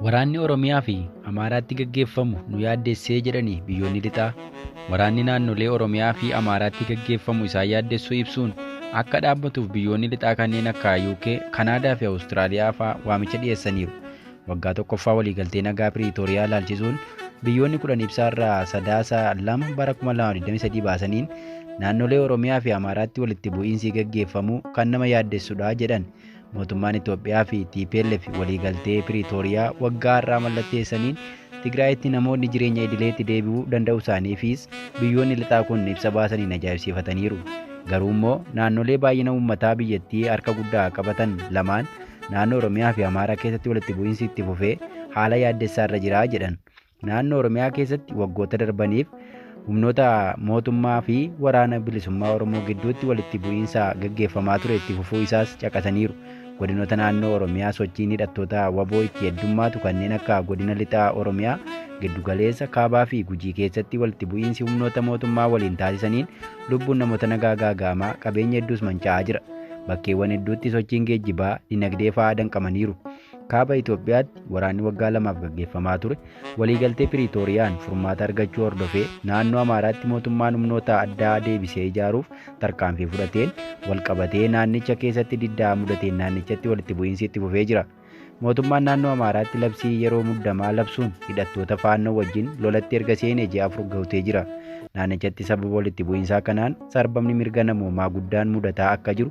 Waraanni Oromiyaa fi Amaaraatti gaggeeffamu nu yaaddessee jedhanii biyyoonni lixaa waraanni naannolee Oromiyaa fi Amaaraatti gaggeeffamu isaan yaaddessuu ibsuun akka dhaabbatuuf biyyoonni lixaa kanneen akka UK, Kanaadaa fi Awustiraaliyaa fa'aa waamicha dhiyeessaniiru. Waggaa tokkoffaa waliigaltee nagaa Piriitooriyaa ilaalchisuun biyyoonni kudhan ibsaa irraa sadaasa lama bara 2023 baasaniin naannolee Oromiyaa fi Amaaraatti walitti bu'iinsi gaggeeffamuu kan nama yaaddessudha jedhan. Mootummaan Itoophiyaa fi TPLF waliigaltee Piriitooriyaa waggaa har'aa mallatteessaniin Tigraayitti namoonni jireenya idileetti deebi'uu danda'u isaaniifis biyyoonni lixaa kun ibsa baasaniin ajaa'ibsiifataniiru. Garuu immoo naannolee baay'ina uummataa biyyattii harka guddaa qabatan lamaan naannoo Oromiyaa fi Amaaraa keessatti walitti bu'iinsi itti fufee haala yaaddessaa irra jira jedhan. Naannoo Oromiyaa keessatti waggoota darbaniif humnoota mootummaa fi waraana bilisummaa Oromoo gidduutti walitti bu'iinsa gaggeeffamaa ture itti fufuu isaas caqasaniiru. Godinoota naannoo Oromiyaa sochiin hidhattoota waboo itti heddummaatu kanneen akka godina lixaa Oromiyaa, giddugaleessa, kaabaa fi gujii keessatti walitti bu'iinsi humnoota mootummaa waliin taasisaniin lubbuun namoota nagaa gaaga'amaa qabeenya hedduus manca'aa jira. Bakkeewwan hedduutti sochiin geejjibaa, dinagdee fa'aa danqamaniiru. Kaaba Itoophiyaatti waraanni waggaa lamaaf gaggeeffamaa ture waliigaltee Piriitooriyaan furmaata argachuu hordofee naannoo Amaaraatti mootummaan humnoota addaa deebisee ijaaruuf tarkaanfii fudhateen walqabatee naannicha keessatti diddaa mudateen naannichatti walitti bu'iinsi itti fufee jira. Mootummaan naannoo Amaaraatti labsii yeroo muddamaa labsuun hidhattoota Faannoo wajjin lolatti erga seenee ji'a afur gahutee jira. Naannichatti sababa walitti bu'iinsaa kanaan sarbamni mirga namoomaa guddaan mudataa akka jiru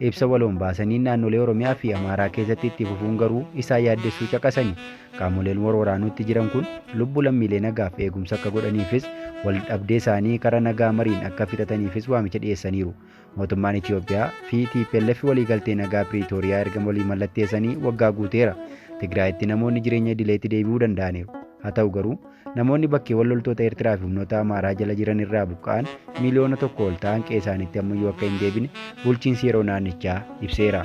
ibsa waloon baasaniin naannolee Oromiyaa fi Amaaraa keessatti itti fufuun garuu isaan yaaddessuu caqasani. Qaamoleen wal waraanuutti jiran kun lubbu lammiilee nagaaf eegumsa akka godhaniifis wal dhabdee isaanii kara nagaa mariin akka fixataniifis waamicha dhiyeessaniiru. Mootummaan Itoophiyaa fi TPLF waliigaltee nagaa Piriitooriyaa erga walii mallatteessanii waggaa guuteera. Tigraayitti namoonni jireenya idileetti deebi'uu danda'aniiru. Haa ta'u garuu, namoonni bakkeewwan loltoota Eertiraa fi humnoota Amaaraa jala jiran irraa buqqa'an miiliyoona tokko ol ta'an qe'ee isaaniitti ammayyuu akka hin deebine bulchiinsi yeroo naannichaa ibseera.